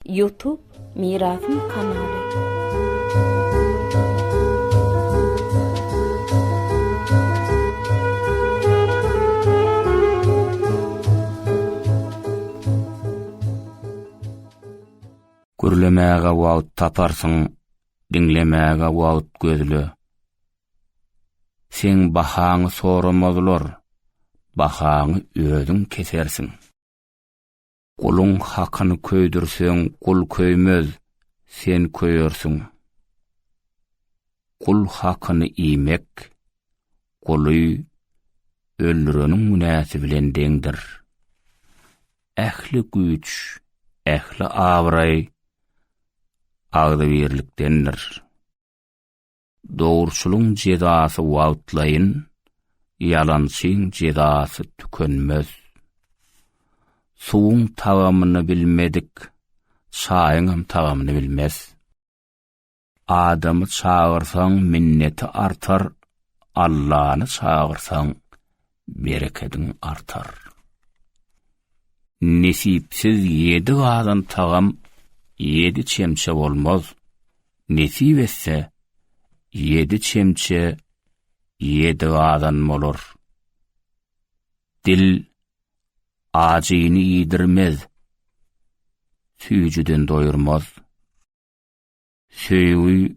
Youtube mirasym kanaly. Gürlemäge wagt taparsyň, diňlemäge wagt gözle. Seň bahaňy soramazlar, bahaňy özüň kesersiň. Guluň hakyny köýdürseň gul köýmez, sen köýersiň. Gul hakyny iýmek, guly öldüreniň günäsi bilen deňdir. Ähli güýç, ähli abraý agzybirlikdendir. Dogruçylyň jezasy wagtlaýyn, ýalançyň jezasy tükenmez. Suwuň tagamyny bilmedik, çaýyňam tagamyny bilmez. Adamy çagyrsaň minneti artar, Allany çagyrsaň berekediň artar. Nesipsiz ýedi gazan tagam ýedi çemçe bolmaz, nesip etse, ýedi çemçe ýedi gazan bolar. Dil ajyny iýdirmez, süýjüden doýurmaz. Söýgi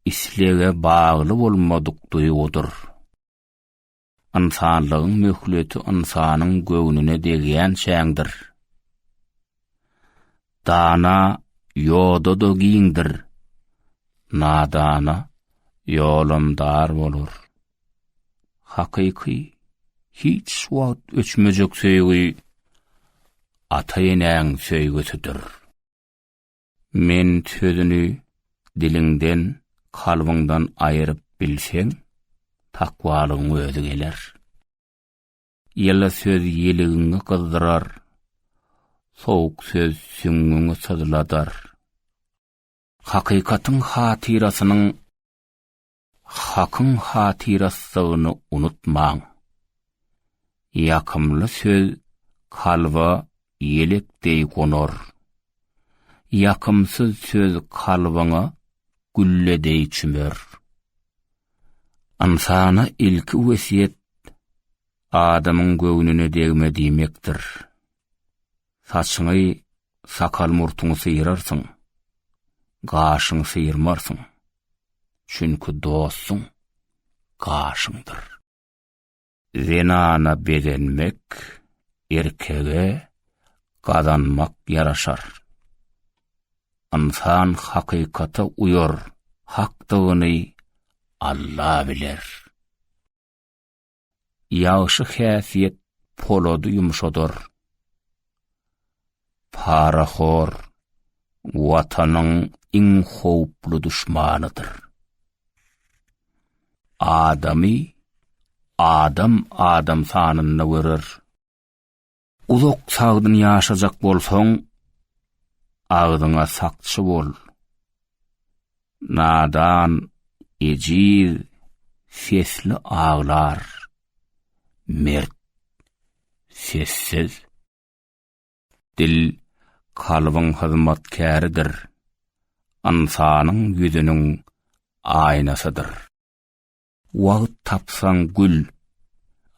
islege bagly bolmadyk duýgudyr. Ynsanlygyň möhleti ynsanyň göwnüne degýänçäňdir. Dana ýoda-da giňdir, nadana ýolam dar bolar. Hakyky, hiç wagt öçmejek söýgi ata-enäň söýgüsidir. Men sözüni diliňden, kalbyňdan aýyryp bilseň, takwalygyň özi geler. Ýyly söz ýeligiňi gyzdyrar, sowuk söz süňňüňi syzladar. Hakykatyň hatyrasynyň Hakyň hatyraslygyny unutmaň. Ýakymly söz kalba ýelek deý gonar. Ýakymsyz söz kalbyňa gülle deý çümer. Ynsana ilki wesýet adamyň göwnüne degme diýmekdir. Saçyňy, sakal-murtuňy syrarsyň, gaşyňy syrmarsyň, çünki dostuň gaşyňdyr. Zenana begenmek erkege gazanmak ýaraşar. Ynsan hakykata uýar, hakdygyny Alla biler. Ýagşy häsiýet polady ýumşadar. Parahor Watanyň iň howply duşmanydyr. Adamy adam adam sanynda görer. Uzak sagdyn ýaşajak bolsaň, agzyňa sakçy bol. Nadan, ejiz, sesli aglar. Mert, sessiz. Dil, kalbyň hyzmatkäridir. Ynsanyň ýüzüniň aýnasydyr. Wagt tapsaň gül,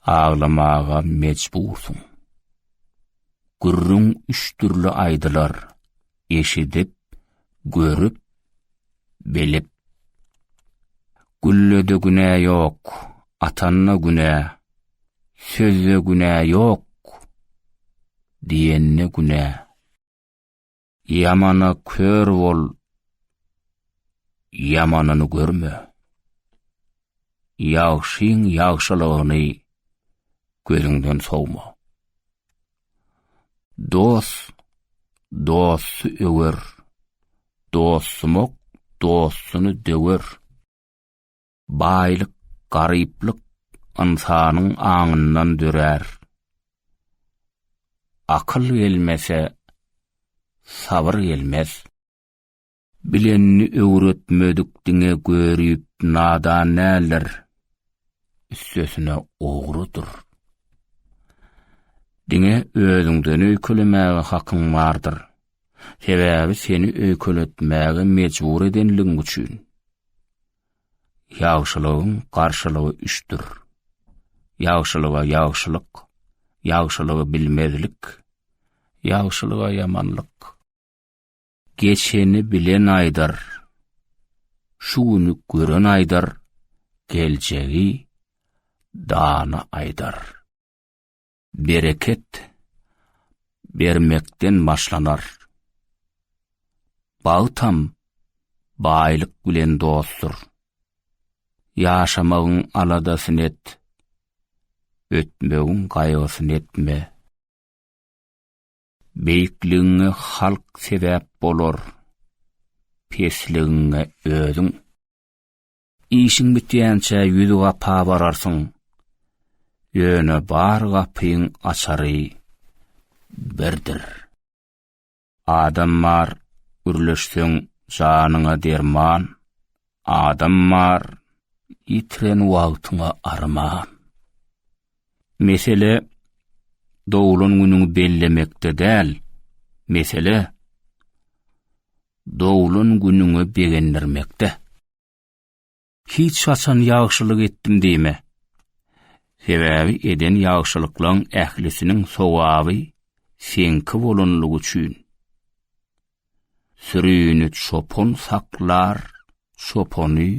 aglamaga mejbursyň. Gürrüň üç dürli aýdylar, eşidip, görüp, bilip. Güllede günä ýok, atanda günä, sözde günä ýok, diýende günä. Ýamana kör bol, ýamanyny görme. Ýagşyň ýagşylygyny gözüňden sowma. Dost, dosty öwer, dostumok, dostuny döwer. Baýlyk, garyplyk ynsanyň aňyndan dörär. Akyl gelmese, sabyr gelmez. Bilenini öwretmedik diňe görüp nadan däldir, üstesine ogrudyr. Diňe özüňden öýkelemäge hakyň bardyr. Sebäbi seni öýkeletmäge mejbur edenligiň üçin. Ýagşylygyň garşylygy üçdür. Ýagşylyga ýagşylyk, ýagşylygy bilmezlik, ýagşylyga ýamanlyk. Geçeni bilen aýdar, şu güni gören aýdar, geljegi dana aýdar. Bereket bermekden başlanar. Bagtam baýlyk bilen dostdur. Ýaşamagyň aladasyny et. Ötmegiň gaýgysyny etme. Beýikligiňe halk sebäp bolar. Pesligiňe özüň. Işiň bitýänçä ýüz gapa bararsyň. Ýöne bar gapyň açary birdir. Adam bar, gürleşseň janyňa derman, Adam bar, ýitiren wagtyňa arman. Mesele doglan günüňi bellemekde däl, mesele doglan günüňi begendirmekde. Hiç haçan ýagşylyk etdim diýme. Sebäbi eden ýagşylyklaryň ählisiniň sowaby seňki bolanlygy üçin. Sürini çopan saklar, çopany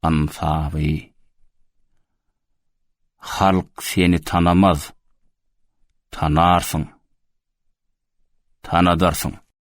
ansaby. Halk seni tanamaz, tanarsyň, tanadarsyň.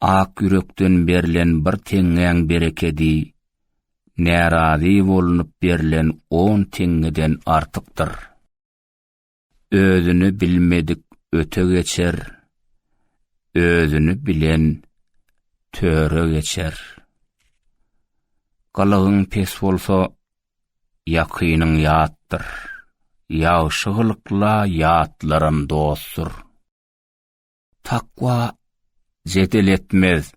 Ak ýürekden berlen bir teňňäň berekedi, närazy bolunyp berlen on teňňeden artykdyr. Özüni bilmedik öte geçer, özüni bilen töre geçer. Gylygyň pes bolsa, ýakynyň ýatdyr. Ýagşy gylykla ýatlaram dostdur. Takwa jedel etmez.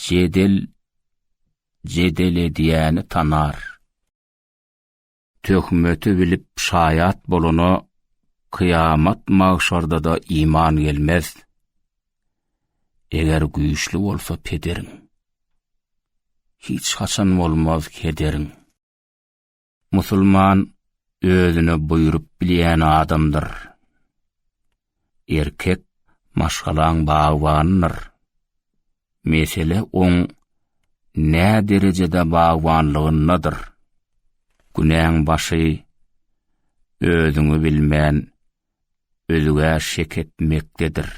Jedel jedel edýäni tanar. Töhmeti bilip şaýat bolana kyýamat magşarda-da iman gelmez. Eger güýçli bolsa pederin. Hiç haçan bolmaz kederin. Musulman özüne buýrup bilýän adamdyr. Erkek maşgalaň bagbanydyr. Mesele oň nä derejede bagbanlygyndadyr. Günäň başy özüňi bilmän özüge şek etmekdedir.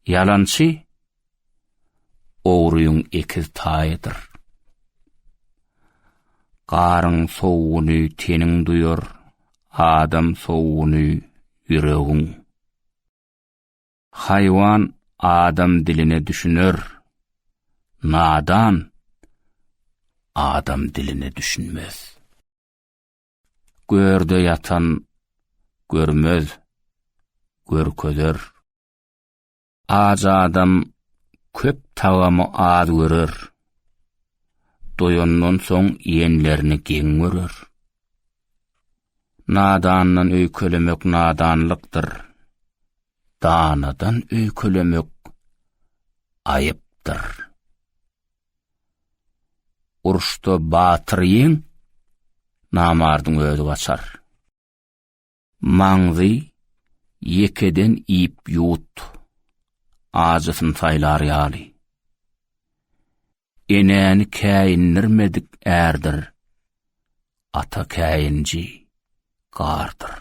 Ýalançy ogryň ekiz taýydyr. Garyň sowuny teniň duýar, adam sowuny ýüregiň. Haýwan adam diline düşüner, nadan adam diline düşünmez. Görde ýatan görmez, görkezer. Aç adam köp tagamy az görer. Doýandan soň iýenlerini geň görer. Nadandan öýkelemek nadanlykdyr. Danadan öýkelemek aýypdyr. Uruşda batyr ýeň, namardyň özi gaçar. Maňzy ýekeden iýip ýut, ajysyn saýlar ýaly. Enäni käýindirmedik ärdir, ata käýinji gardyr.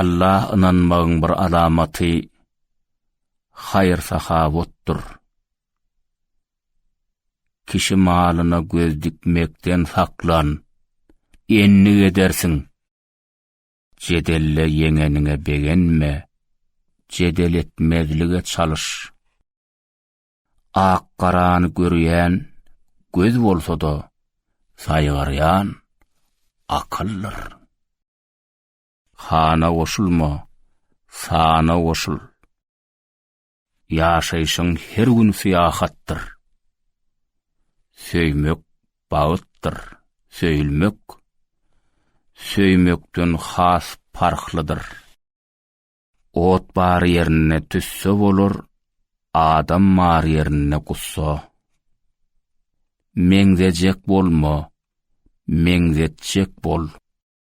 Allaha ynanmagyň bir alamaty haýyr-sahawatdyr. Kişi malyna göz dikmekden saklan, endik edersiň. Jedelde ýeňeniňe begenme, jedel etmezlige çalyş. Ak-garany görýän göz bolsa-da, saýgarýan akyldyr. Hana goşulma, sana goşul. Ýaşaýşyň her gün syýahatdyr. Söýmek bagtdyr, söýülmek söýmekden has parhlydyr. Ot bar ýerinde tüsse bolar, adam bar ýerinde gussa. Meňzejek bolma, meňzetjek bol.